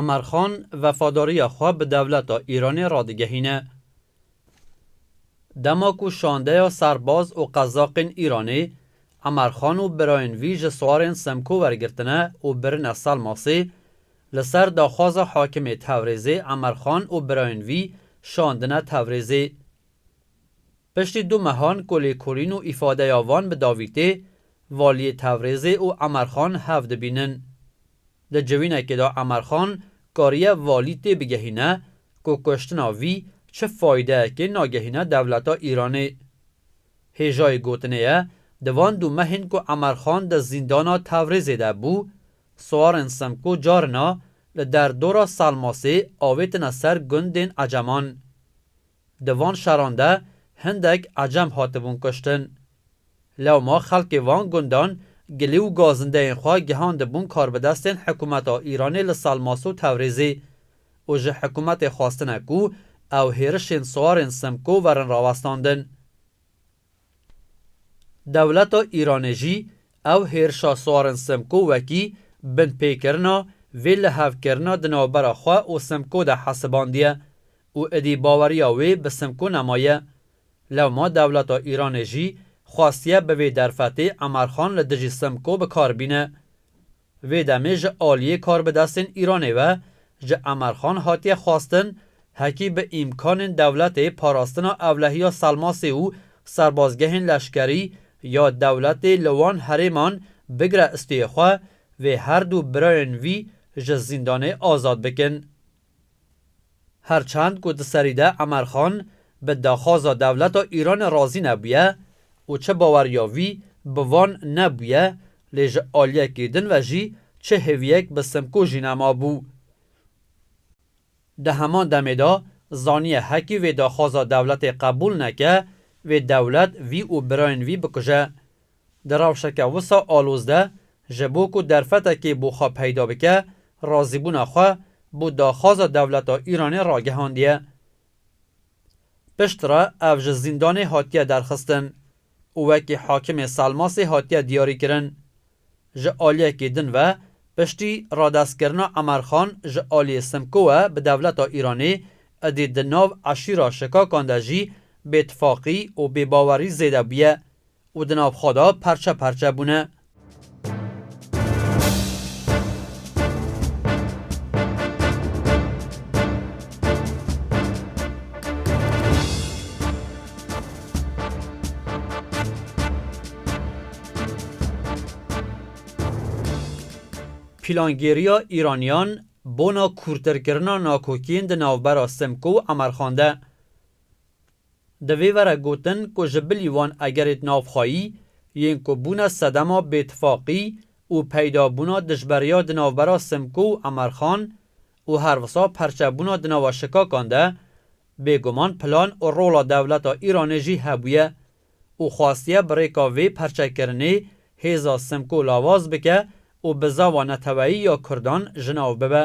Emer Xan vefadariya xwe bi dewleta Îranê radigehîne. Dema ku şandeya serbaz û qezaqên Îranê Emer Xan û birayên vî ji swarên Semko wergirtine û birine Selmasê, li ser daxwaza hakimê Tewrêzê Emer Xan û birayên vî şandine Tewrêzê. Piştî du mehan ku lêkolîn û îfadeya van bi dawî tê, Valiyê Tewrêzê û Emer Xan hev dibînin. Di civînekê de Emer Xan kariye valî tê bigehîne ku kuştina vî çi fayideyekê nagehîne dewleta Îranê. Hêjayê gotinê ye, di van du mehên ku Emer Xan di zîndana Tewrêzê de bû, siwarên Simko carina li der dora Selmasê avêtine ser gundên Eceman. Di van şaran de hindek ecem hatibûn kuştin. Lewma xelkê van gundan gilî û gazindeyên xwe gihandibûn karbidestên hikûmeta Îranê li Salmas û Tewrêzê û ji hikûmetê xwestine ku ew hêrişên siwarên Simko werin rawestandin. Dewleta Îranê jî ew hêrişa Swarin Simko wekî binpêkirina vê lihevkirina di navbera xwe û Simko de hesibandiye û idî baweriya wê bi Simko nemaye. Lewma dewleta Îranê jî xwestiye bi vê derfetê Emerxan li dijî Simko bi kar bîne. Vê demê ji aliyê karbidestên Îranê ve ji Emerxan hatiye xwestin hekî bi îmkanên dewletê parastina ewlehiya Selmasê û serbazgehên leşkerî ya dewletê li wan herêman bigire istêyê xwe, vê her du birayên vî ji zîndanê azad bikin. Her çend ku di serî de Emer Xan bi daxwaza dewleta Îranê razî nebûye û çi bawer ya wî bi van nebûye lê ji aliyekî din ve jî çi hêviyek bi Simko jî nemabû. Di heman demê de zaniye hekî vê daxwaza dewletê qebûl neke, vê dewlet vî û birayên vî bikuje. Di rewşeke wisa aloz de ji bo ku derfetekê bo xwe peyda bike, razîbûna xwe bo daxwaza dewleta Îranê ragihandiye. Piştre ev ji zîndanê hatiye derxistin û wekî hakimê Selmasê hatiye diyarîkirin. Ji aliyekî din ve piştî radestkirina Emer Xan ji aliyê Simko we bi dewleta Îranê, idî di nav eşîra Şikakan de jî bêtifaqî û bêbawerî zêde bûye û di nav xwe de parçe parçe bûne. Plangêriya Îraniyan bona kûrtirkirina nakokiyên di navbera Simko û Emerxan de. Divê were gotin ku ji bilî wan egerêt navxweyî yên ku bûne sedema bêtifaqî û peydabûna dijberiya di navbera Simko û Emerxan û her wisa perçebûna di nava şikakan de bêguman plan û rola dewleta Îranê jî hebûye û xwastiye bi rêka vê perçekirinê hêza Simko lawaz bike û bi zava neteweyî ya Kurdan ji nav bibe.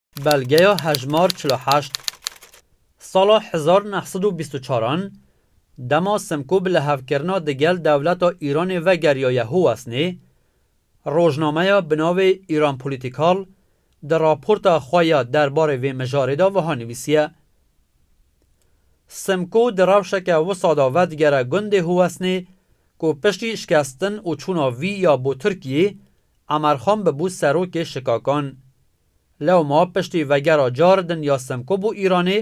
Belgeya hejmar çil û heşt Sala hezar neh sed û bîst û çar an dema Simko bi lihevkirina digel dewleta Îranê ve geriyaye Huwesnê, rojnameya bi navê Iran Political di raporta xwe ya der barê vê mijarê de wiha nivîsiye, Simko di rewşeke wisa de vedigere gundê Huwesnê ku piştî şikestin û çûna vî ya bo Tirkiyê, Emerxan bibû serokê şikakan. Lewma piştî vegera Caridin ya Simko bo Îranê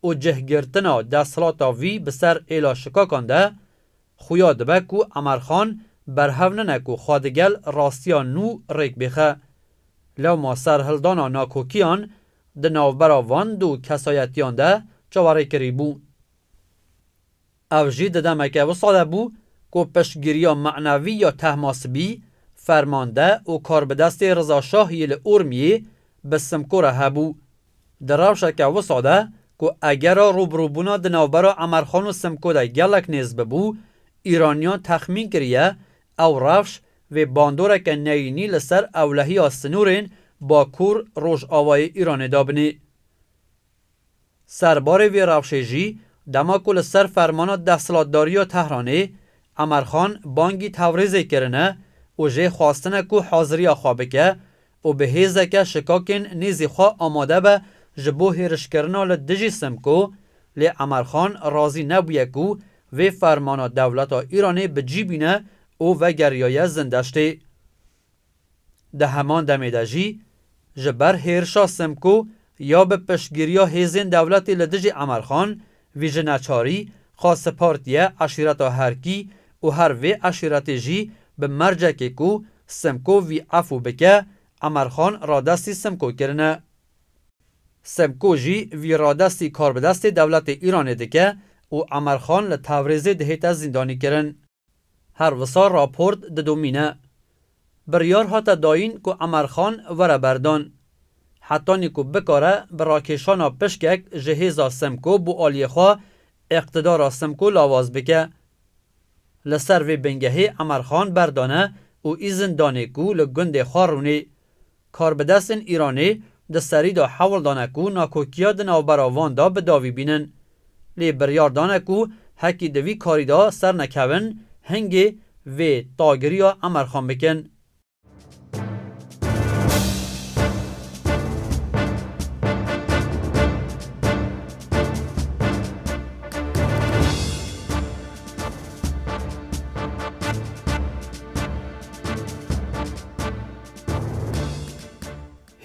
û cihgirtina desthilata vî bi ser êla şikakan de, xuya dibe ku Emer Xan berhev nine ku xwe di gel rastiya nû rêk bêxe. Lewma serhildana nakokiyan di navbera van du kesayetiyan de çawerêkirî bû. Ev jî di demeke wisa de bû ku piştgiriya manevî ya Tehmasibî, fermande û karbidestê Riza Şah yê li Urmiyê bi Simko re hebû. Di rewşeke wisa de ku egera rûbirûbûna di navbera Emerxan û Simko de gelek nêz bibû, Îraniyan texmîn kiriye ew rewş vê bandoreke neyînî li ser ewlehiya sinûrên Bakur-Rojavayê Îranê dabinê. Ser barê vê rewşê jî dema ku li ser fermana desthilatdariya Tehranê Emerxan bangî Tewrêzê kirine û jê xwestine ku haziriya xwe bike û bi hêzeke şikakên nêzî xwe amade be ji bo hêrişkirina li dijî Simko, lê Emerxan razî nebûye ku vê fermana dewleta Îranê bi cî bîne û vegeriyaye Zindeştê. Di heman demê de jî ji ber hêrişa Simko ya bi piştgiriya hêzên dewletê li dijî Emerxan vî ji neçarî xwe sipartiye eşîreta Herkî û her vê eşîretê jî bi mercekê ku Simko vî efû bike Emerxan radestî Simko kirine. Simko jî vî radestî karbidestê dewletê Îranê dike û Emerxan li Tewrêzê dihête zîndanîkirin. Her wisa raport didomîne. Biryar hate dayîn ku Emer Xan were berdan. Hetanî ku bikare bi rakêşana pişkek ji hêza Simko bo aliyê xwe îqtidara Simko lawaz bike. Li ser vê bingehê Emer Xan berdane û îzin danê ku li gundê xwe rûnê Karbidestên Îranê di serî de hewl dane ku nakokiya di navbera van de bi davî bînin. Lê biryar dane ku hekî di vî karî de ser nekevin, hingê vê tagiriya Emer Xan bikin.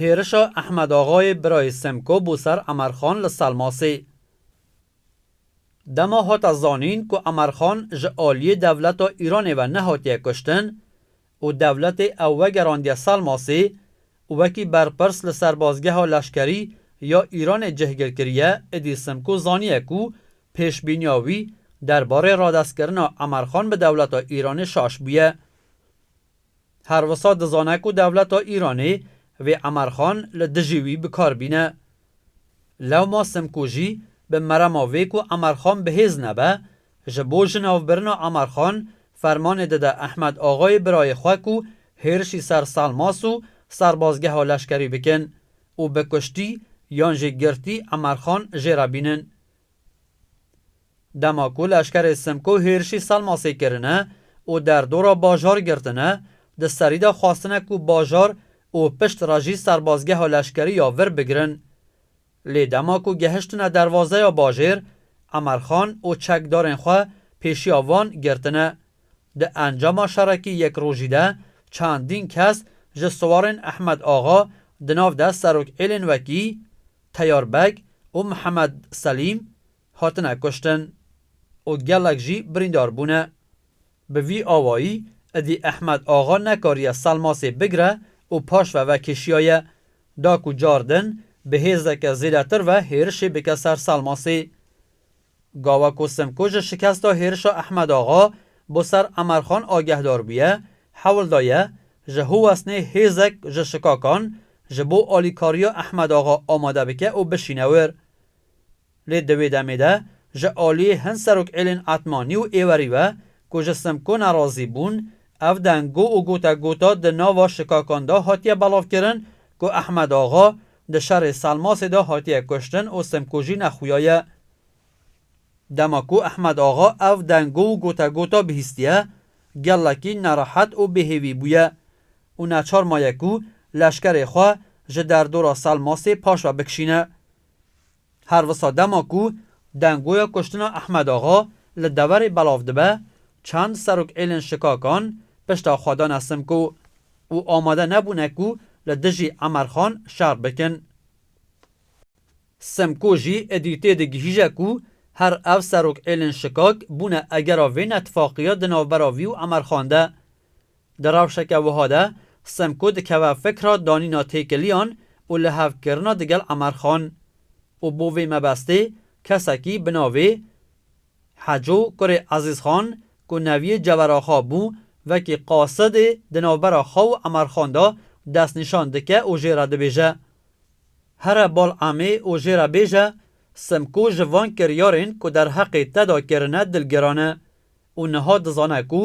Hêrişa Ehmed Axayê birayê Semko bo ser Emer Xan li Selmasê. Dema hate zanîn ku Emer Xan ji aliyê dewleta Îranê ve nehatiye kuştin û dewletê ew vegerandiye Selmasê û wekî berpirs li serbazgeha leşkerî ya Îranê cihgir kiriye idî Simko zaniye ku pêşbîniya wî derbarê radestkirina Emer Xan bi dewleta Îranê şaş bûye. Her wisa dizane ku dewleta Îranê vê Emerxan li dijî wî bi kar bîne. Lewma Simkujî bi merema vê ku Emerxan bi hêz nebe, ji bo ji navbirina Emerxan fermanê dide Ehmed Axayê birayê xwe ku hêrişî ser Salmas û serbazgeha leşkerî bikin û bi kuştî yan jî girtî Emerxan jê re bînin Dema ku leşkerê Simko hêrişî Selmasê kirine û derdora bajar girtine, di serî de xwestine ku bajar û pişt re jî serbazgeha leşkerî ya vir bigirin. Lê dema ku gehiştine derwazeya bajêr, Emerxan û çekdarên xwe pêşiya wan girtine. Di encama şerekî yek rojî de çendîn kes ji siwarên Ehmed Axa di nav de serokêlên wekî, Teyar Beg û Mihemed Selîm hatine kuştin û gelek jî birîndar bûne. Bi vî awayî idî Ehmed Axa nekariye Selmasê bigire û paş ve vekişiyaye, da ku car din bi hêzeke zêdetir ve hêrişê bike ser Selmasê. Gawa ku Simko ji şikesta hêrişa Ehmed Axa bo ser Emerxan agehdar bûye, hewl daye ji Huwesnê hêzek ji şikakan ji bo alîkariya Ehmed Axa amade bike û bişîne wir. Lê di wê demê de ji aliyê hin Serokêlên Etmanî û Êwerî ve ku ji Simko nerazî bûn, ev dengo û gotegota di nava şikakan de hatiye belavkirin ku Ehmed Axa Di şerê Salmasê de hatiye kuştin û simkujîna xuya ye. Dema ku Ehmed Axa ev dengo û gotegota bihîstiye, gelekî nerehet û bêhêvî bûye û neçar maye ku leşkerê xwe ji derdora Salmasê paşve bikişîne. Her wisa dema ku dengoya kuştina Ehmed Axa li deverê belav dibe, çend serok êlên şikakan pişta xwe dane Simko û amade nebûne ku li dijî Emer Xan şer bikin. Simko jî êdî tê digihîje ku her ev serok êlên şikak bûne egera vê netfaqîya di navbera vî û Emer Xan de. Di rewşeke wiha de Semko dikeve fikra danîna têkiliyan û lihevkirina digel Emerxan û bo vê mebestê kesekî bi navê Heco kurê Ezîzxan ku neviyê Ceveraxa bû vekî qasidê di navbera xwe û Emerxan de destnîşan dike û jê re dibêje Here bal emê û jê re bêje Semko ji van kiryarên ku derheqê te de kirine dilgiran e. û niha dizane ku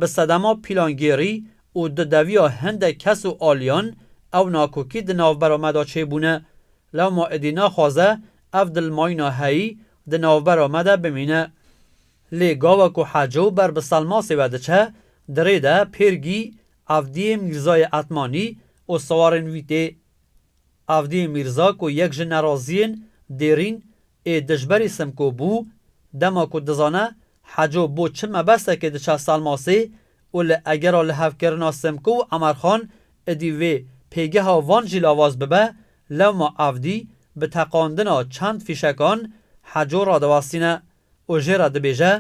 bi sedema pîlangêrî û di deviya hindek kes û aliyan ew nakokî di navbera me de çêbûne. Lewma êdî naxwaze ev dilmayîna heyî di navbera me de bimîne. Lê gawa ku Heco ber bi Selmasê ve diçe, di rê de Pêrgî, Evdiyê Mîrzayê Etmanî û siwarên wî tê. Avdî Mîrza ku yek ji neraziyên dêrîn ê dijberî Simko bû, dema ku dizane Heco bo çi mebesekê diçe Salmasê û li egera lihevkirina Simko û Emerxan idî vê pêgeha van jî lavaz bibe, lewma Avdî bi teqandina çend fîşekan Heco radiwestîne û jê re dibêje,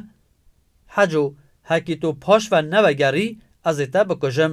Heco, hekî tu paşve nevegerî, ez ê te bikujim.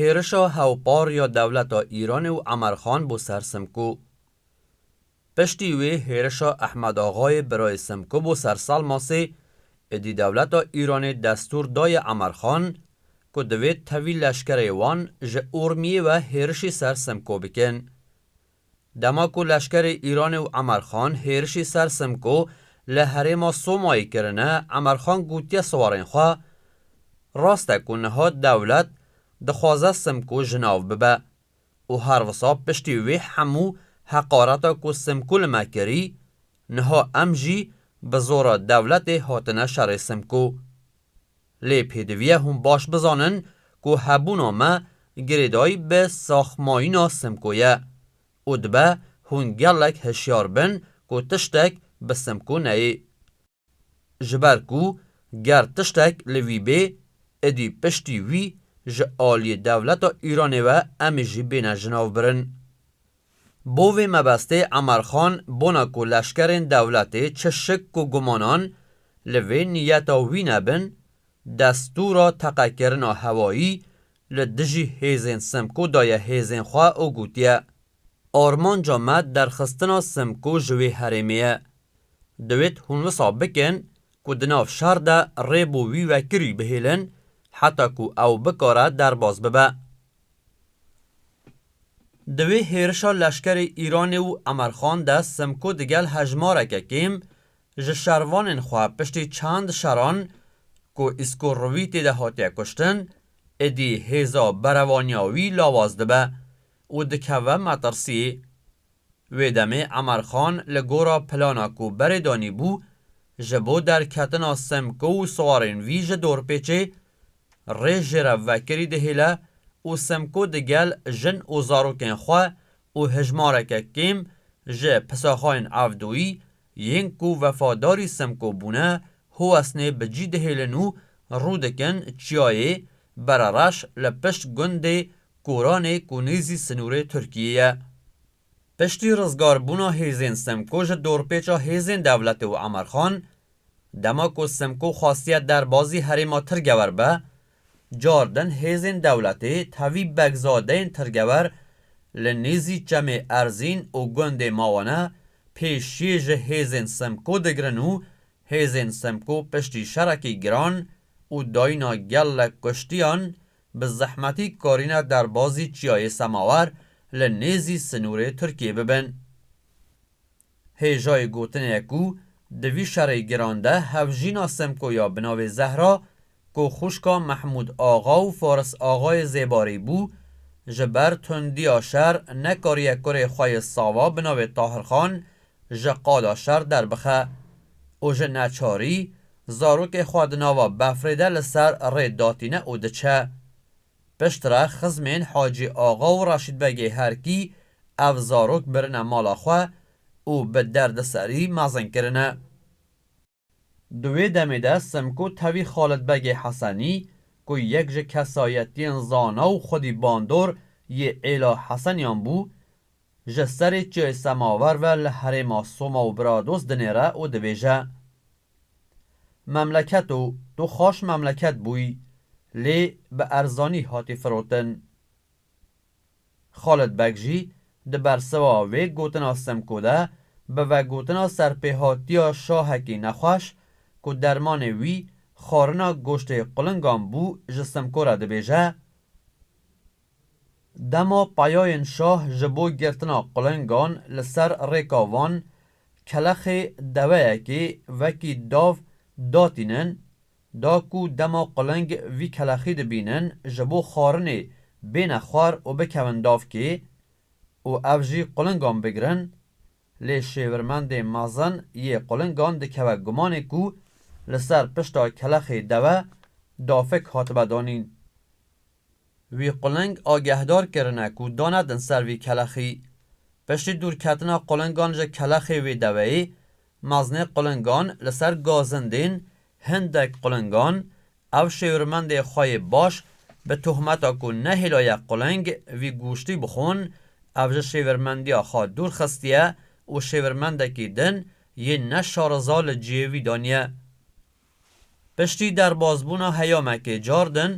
Hêrişa hewpar ya dewleta Îranê û Emer Xan bo ser Simko. Piştî wê hêrişa Ehmed Axayê birayê Simko bo ser Salmasê, êdî dewleta Îranê destûr daye Emer Xan ku divê tevî leşkerê wan ji Urmiyê ve hêrişî ser Simko bikin. Dema ku leşkerê Îranê û Emerxan hêrişî ser Simko li herêma Somayê kirine Emerxan gotiye siwarên xwe, Rast e ku niha dewlet dixwaze Simko ji nav bibe û her wisa piştî wê hemû heqareta ku Simko li me kirî, niha em jî bi zora dewletê hatine şerê Simko. Lê pêdiviye hûn baş bizanin ku hebûna me girêdayî bi saxmayîna Simko ye û dibe hûn gelek hişyar bin ku tiştek bi Simko neyê. Ji ber ku ger tiştek li wî bê, idî piştî wî ji aliyê dewleta Îranê ve em jî bêne jinavbirin. Bo vê mebestê Emer Xan bona ku leşkerên dewletê çi şik ku gumanan li vê niyeta wî nebin, destûra teqekirina hewayî li dijî hêzên Simko daye hêzên xwe û gotiye, Armanca me derxistina Simko ji wê herêmê ye. Divêt hûn wisa bikin ku di nav şer de rê bo wî wekirî bihêlin heta ku ew bikare derbas bibe. Di wê hêrişa leşkerê Îranê û Emer Xan de Simko digel hejmareke kêm ji şervanên xwe piştî çend şeran ku Îsko Rûvî tê de hatiye kuştin, êdî hêza berevaniya wî lawaz dibe û dikeve metirsiyê Wê demê Emar Xan li gora plana ku berê danîbû ji bo derketina Semko û siwarên wî ji dorpêçê, rê jê re vekirî dihêle û Semko digel jin û zarokên xwe û hejmareke kêm ji pisaxayên Evdoyî Yên ku wefadarî Semko bûne Huwesnê bi cî dihêlin û rû dikin Çiyayê Berereş li pişt gundê Koranê ku nêzî sinûrê Tirkiyê ye. Piştî rizgarbûna hêzên Semko ji dorpêça hêzên dewletê û Emerxan, dema ku Semko xwastiye derbazî herêma Tirgewer be, Cardin hêzên dewletê tevî begzadeyên tirgewer li nêzî Çemê Erzîn û gundê Mawane pêşiyê ji hêzên Simko digirin û hêzên Simko piştî şerekî giran û dayîna gelek kuştiyan bi zehmetî karîne derbazî Çiyayê Semawer li nêzî sinûrê Tirkiyê bibin. Hêjayê gotin e ku di vî şerê giran de hevjîna Semko ya bi navê Zehra ku xwişka Mehmûd Axa û Faris Axayê Zêbarî bû, ji ber tundiya şer nekariye kurê xwe yê sava bi navê Tahirxan ji qada şer derbixe û ji neçarî zarokê xwe di nava befrê de li ser rê datîne û diçe. Piştre xizmên Hacî Axa û Reşîd Begê Herkî ev zarok birine mala xwe û bi derdiserî mezin kirine. Di wê demê de Simko tevî Xalid Begê Hesenî ku yek ji kesayetiyên zana û xwedî bandor yê Êla Hesenîyan bû, ji serê Çiyê Semawer ve li herêma Soma û Brados dinêre û dibêje, Memleketo tu xweş memleket bûy lê bi erzanî hatî firotin. Xalid Beg jî di bersiva vê gotina Simko de bi vegotina serpêhatiya şahekî nexweş ku dermanê wî xwarina goştê qulingan bû ji Simko re dibêje, Dema peyayên şah ji bo girtina qulengan li ser rêka van kelexê deveyekê wekî dav datînin, da ku dema quleng vî kelexî dibînin ji bo xwarinê bêne xwar û bikevin davkê û ev jî qulengan bigirin, lê şêwirmendê mezin yê qulengan dikeve gumanê ku li ser pişta kelexê deve dafek hatibe danîn. Wî quleng agehdar kirine ku danedin ser vî kelexî. Piştî dûrketina qulengan ji kelexê wê deweyê, meznê qulengan li ser gazin dên hindek qulengan, ev şêwirmendê xwe yê baş bi tohmeta ku nehêlaye quleng vî goştî bixwin, ev ji şêwirmendiya xwe dûr xistiye û şêwirmendekî din yên ne şariza li cihê wî daniye. Piştî derbazbûna heyamekê cardin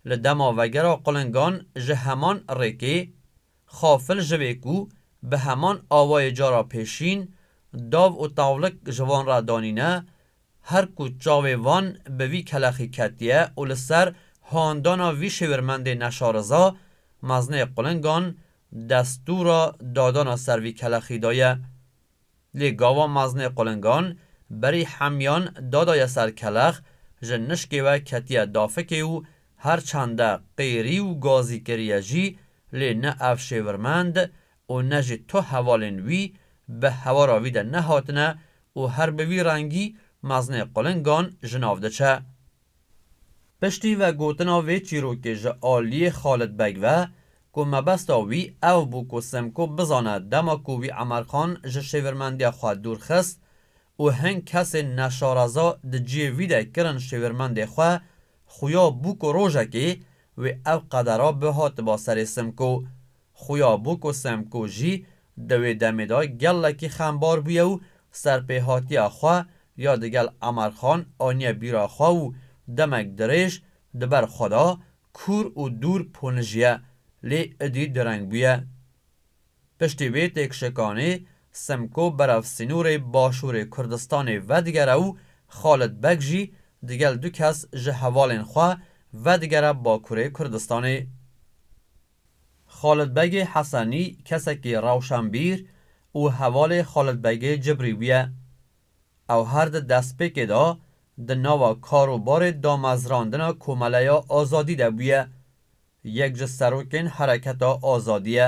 li dema vegera qulingan ji heman rêkê, xafil ji vê ku bi heman awayê cara pêşîn dav û tawlik ji van re danîne, her ku çavê van bi vî kelexî ketiye û li ser handana vî şêwirmendê neşariza, mezinê qulingan destûra dadana ser vî kelexî daye. Lê gava meznê qulingan, berî hemyan dadaya ser kelex, ji nişkê we ketiye dafikê û her çende qêrî û gazî kiriye jî, lê ne ev şêvirmend û ne jî tu hevalên wî bi hewara wî de nehatine û her bi vî rengî meznê qulingan ji nav diçe. Piştî vegotina vê çîrokê ji aliyê Xalid Beg ve ku mebesta wî ew bû ku Semko bizane dema ku wî Emerxan ji şêwirmendiya xwe dûr xist û hin kesên neşareza di ciyê wî de kirin şêwirmendê xwe, xuya bû ku rojekê wê ev qedera bihatiba serê Semko Xuya Buko Semko jî di wê demê de gelekî xembar bûye û serpêhatiya xwe ya digel Emerxan aniye bîra xwe û demek dirêj di ber xwe de kûr û dûr ponijiye lê idî direng bûye. Piştî vê têkşikanê Semko berev sînorê Başûrê Kurdistanê vedigere û Xalid Beg jî digel du kes ji hevalên xwe vedigere Bakurê Kurdistanê. Xalid Begê Hesenî kesekî rewşenbîr û hevalê Xalid Begê Cibrî bûye. Ew her di destpêkê de di nava kar û barê damezrandina Komeleya Azadî de bûye. Yek ji serokên Hereketa Azadî ye.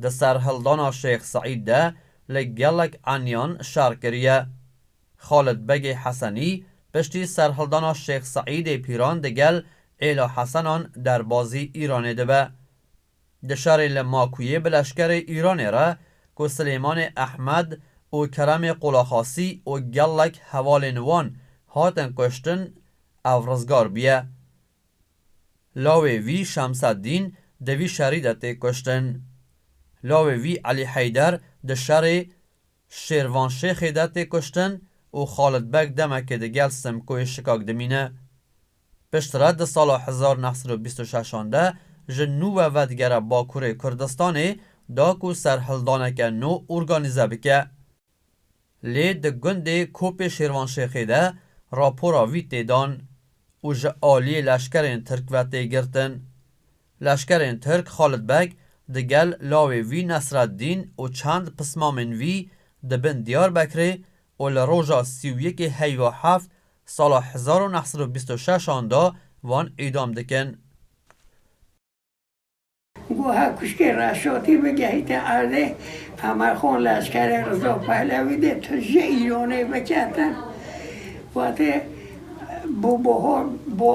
Di serhildana Şêx Seîd de li gelek eniyan şer kiriye. Xalid Begê Hesenî piştî serhildana Şêx Seîdê Pîran di gel Êla Hesenan derbazî Îranê dibe. Di şerê li Makûyê bi leşkerê Îranê re ku Silêmanê Ehmed û Keremê Qulaxasî û gelek hevalên wan hatin kuştin ev rizgar bûye. Lawê vî Şemseddîn di vî şerî de tê kuştin. Lawê vî Elî Heyder di şerê Şêrvan Şêxê de tê kuştin û Xalid Beg demekê di gel Simkoyê Şikak dimîne. Piştre di sala hezar neh sed û bîst û şeş an de ji nû ve vedigere Bakurê Kurdistanê da ku serhildaneke nû organîze bike. Lê di gundê Kopê Şêrvan Şêxê de rapora wî tê dan û ji aliyê leşkerên Tirk ve tê girtin. Leşkerên Tirk Xalid Beg di gel lawê wî Nesreddîn û çend pismamên wî di bin Diyarbekirê û li roja sî û yekê heyva heft sala hezar û neh sed û bîst û şeş an de wan îdam dikin. Goha kuşkê Reşotî bigehîte erdê, Qemerxan leşkerê Riza Pehlewî dê tu ji Îranê biketin. Wate bo bihar bo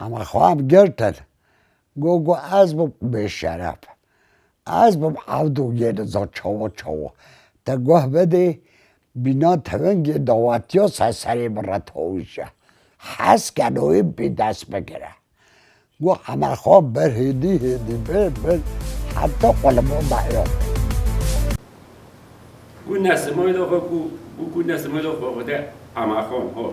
Em xwab girtin got ku ez bûm bêşeref, ez bûm ewdû yê li za çawa çawa, te guh bidî bîna tevingê dawetiya ser serê min re tewîşe, hez keno wê bi dest bigire. Got Emer Xwab bir hêdî hêdî bir bir heta ku li bo daye xwe. Got ne simayda xwe ku, got ne simayda xwe xwe de Emer Xwan ho.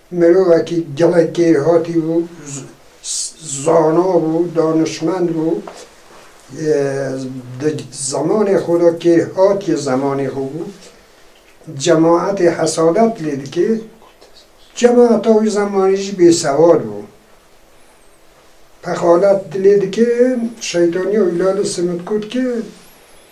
Mirovekî gelek kêrhatî bû, zana bû, danişmend bû. Di zemanê xwe de kêrhatî zemanê xwe bû. Cemaetê hesadet lê dike. Cemaeta wî zemanî jî bêsewad bû. Pexalet lê dike, şeytaniya wî lale simit kut ke